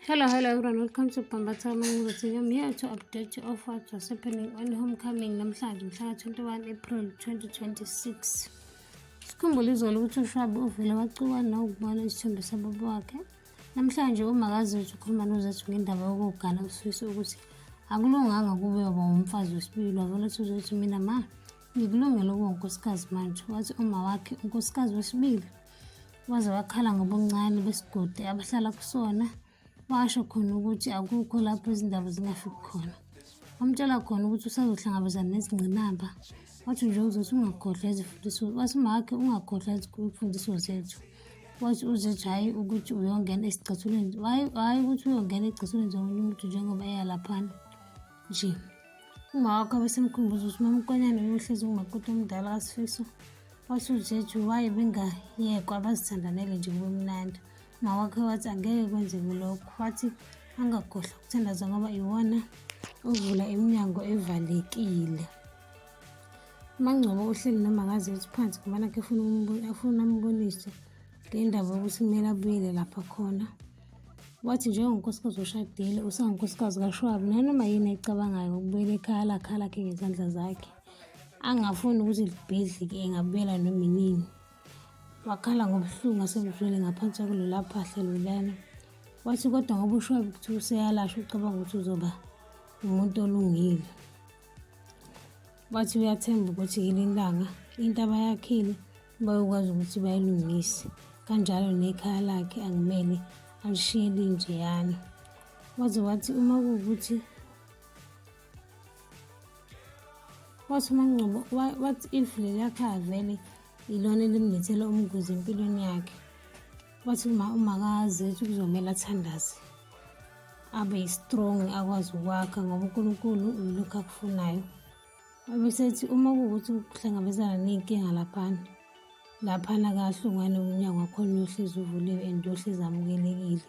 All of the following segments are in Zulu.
hello hello everyone welcome to bhamba thama ngizothina i'm here to update you of what was happening on homecoming namhlanje mhla 21 april 2026 sikhumbula izolo ukuthi ushwabi uvele wacuka nawukubona isithombe sababa wakhe namhlanje umakazi wethu ukhuluma nozethu ngendaba yokugana usifisa ukuthi akulunganga kube yoba wumfazi wesibili wavele uthi uzothi mina ma ngikulungele ukuba unkosikazi manje wathi uma wakhe unkosikazi wesibili waze wakhala ngobuncane besigodi abahlala kusona washo khona ukuthi akukho lapho izindaba zingafiki khona wamtshela khona ukuthi usazohlangabezana nezingqinamba wathi nje uzothi ungakhohlwa izifundiso wathi makhe ungakhohlwa izifundiso zethu wathi uzethu hhayi ukuthi uyongena esicathulweni hhayi ukuthi uyongena ezicathulweni zomunye umuntu njengoba eyalaphana nje Umawakho abesemkhumbuza ukuthi mamkonyane uyohlezi umakoti omdala kasifiso wathi ujeju waye bengayekwa bazithandanele nje kube mnandi mawakhe wathi angeke kwenzeke lokho wathi angagohla ukuthandaza ngoba iwona ovula iminyango evalekile mangcobo uhleli noma ngaze uthi phansi ngoba nakhe afuna ambonise ngendaba yokuthi kumele abuyele lapha khona Wathi njengonkosikazi oshadile usangunkosikazi kaShwabu nanoma yini ayicabangayo ukubuyela ekhaya lakhe alakhe ngezandla zakhe angafuni ukuthi libhedlike engabuyela noma inini wakhala ngobuhlungu asebuzwele ngaphansi kwakulola phahla lolana wathi kodwa ngoba ushwabi ukuthi useyalashwa ucabanga ukuthi uzoba umuntu olungile Wathi uyathemba ukuthi ngelinye ilanga into abayakhile bayokwazi ukuthi bayilungise, kanjalo nekhaya lakhe angimele alishiye linjeyana. Waze wathi uma kuwukuthi wathi uMangcobo wathi if leliya khaya vele ilona elimlethela umngozi empilweni yakhe wathi uma umakaze ukuthi kuzomele athandaze abe strong akwazi ukwakha ngoba uNkulunkulu uyilokhu akufunayo abesethi uma kuwukuthi ukuhlangabezana ney'nkinga laphana laphana kahle ungane umnyango wakhona uyohlezi uvuliwe and uyohlezi amukelekile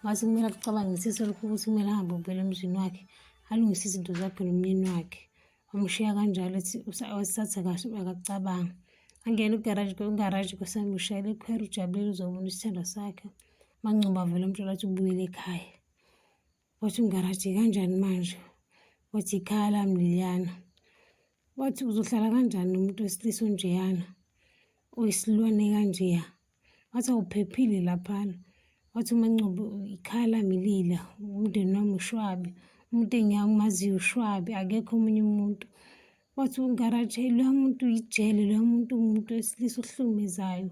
mase kumele akucabangisise lokhu ukuthi kumele ahambe ubuyela emzini wakhe alungise izinto zakhe nomyeni wakhe amushiya kanjalo usathe kahle akacabangi angene ugaraji ugaraji kusemushayela ikhwera ujabulile uzobona isithando sakhe mancuba vele umtshela ukuthi ubuyele ekhaya wathi umgaraji kanjani manje wathi ikhaya lami liliyana wathi uzohlala kanjani nomuntu wesilisa onjeyana oyisilwane kanjeya Wathi awuphephile laphana. Wathi uma Ncube ikhala ngilila umndeni wami ushwabi. Umuntu engiyamumaziyo ushwabi akekho omunye umuntu. Wathi ungaraje loya muntu yijele loya muntu umuntu wesilisa ohlukumezayo.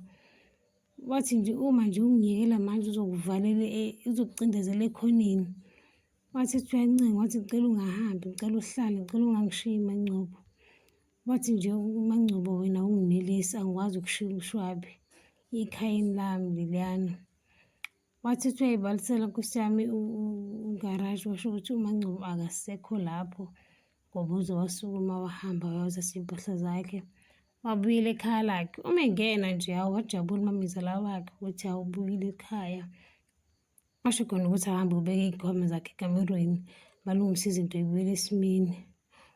Wathi nje uma nje ungiyekela manje uzokuvalela e-, uzokucindezela ekhoneni. Wathi kuthiwa incingo wathi ngicela ungahambi ngicela uhlale ngicela ungangishiyi Mangcobo. Wathi nje uMaNgcobo wena unginelisi angikwazi ukushiya uMshwabi ekhayeni lami leliyana. Wathi uthi uyayibalisela nkosi yami ugaraji washo ukuthi uMaNgcobo akasekho lapho ngoba uze wasukuma wahamba wayoza siyimpahla zakhe. Wabuyela ekhaya lakhe. Uma engena nje hawu wajabula umamezala wakhe ukuthi awubuyile ekhaya. asho khona ukuthi ahambe ubeke iy'khwama zakhe ekamerweni balungise izinto ibuyele esimeni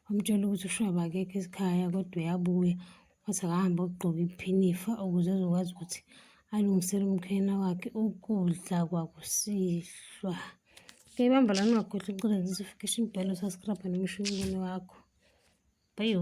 wamtshela ukuthi ushwaba akekho esikhaya kodwa uyabuya wathi akahambe ogqoka iphinifa ukuze ezokwazi ukuthi alungisele umkhwena wakhe ukudla kwakusihlwa ke bamba lani wakhohlwa ucela ngizifikisha imbhalo saskrabha nomshini wakho bayo